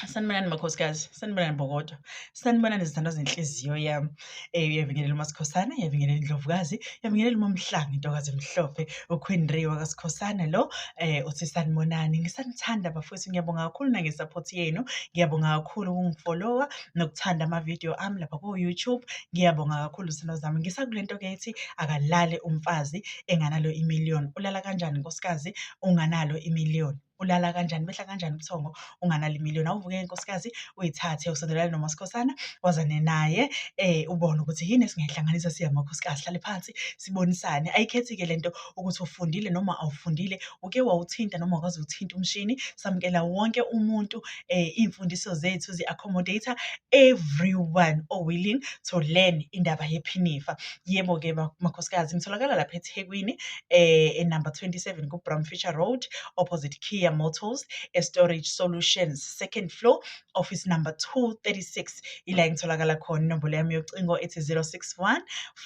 sanibonani makhosikazi sanibonani bokodo sanibonani izithandwa zenhliziyo yam um eh, yavingelela umasikhosana yavingelela indlovukazi yavingelela umamhlanga intokazi emhlophe uqueenry wakasikhosana lo um eh, uthi sanibonani ngisanithanda bafowethu ngiyabonga kakhulu nangesaphothi yenu ngiyabonga kakhulu ukungifolowa nokuthanda amavidiyo ami lapha ku-youtube ngiyabonga kakhulu zithandwa zami ngisakule nto ke ithi akalale umfazi enganalo imiliyoni ulala kanjani nkosikazi unganalo imiliyoni ulala kanjani behla kanjani ubuthongo unganali million awuvuke inkosikazi uyithathe usondelane nomasikhosana wazane naye eh ubone ukuthi yini esingayihlanganisa siya makhosikazi hlale phansi sibonisane ayikhethi-ke le nto ukuthi ufundile noma awufundile uke wawuthinta noma wakwazi ukuthinta umshini samukela wonke umuntu eh iy'mfundiso zethu zi-accommodator everyone o-willing to learn indaba yephinifa Yebo-ke makhosikazi ngitholakala lapha eThekwini eh enumber 27 kuBrown Fisher Road opposite Kia Motors eStorage Solutions second floor office number 236 ila ngitholakala khona inombolo yami yocingo ethi 061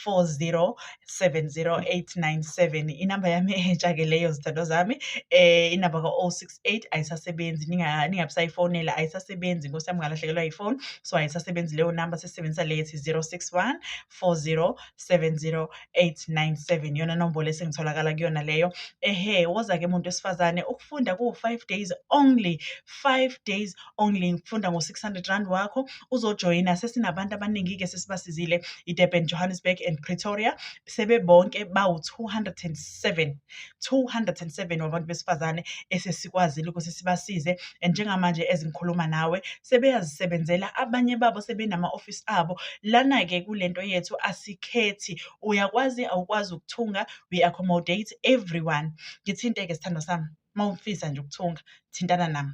4070897 inamba yami entsha ke leyo zithandwa zami eh inamba ka-068 ayisasebenzi ninga- ningabisayifonela ayisasebenzi nkosi yami ngalahlekelwa yifoni so ayisasebenzi leyo namba sesisebenzisa leyo ethi 061 0724070897 yona nombolo esengitholakala kuyona leyo ehe woza-ke muntu wesifazane ukufunda kuwu-five days only five days only ngifunda ngo-six hundred rand wakho uzojoyina sesinabantu abaningi-ke sesibasizile idurban johannesburg and pretoria sebebonke bawu-two hundred and seven 207 wabantu besifazane esesikwazile ukuthi sibasize and njengamanje ezingikhuluma nawe sebeyazisebenzela abanye babo sebenama-ofisi abo lana-ke kule nto yethu asikhethi uyakwazi awukwazi ukuthunga we accommodate everyone ngithinte-ke sithandwa sami uma ufisa nje ukuthunga thintana nami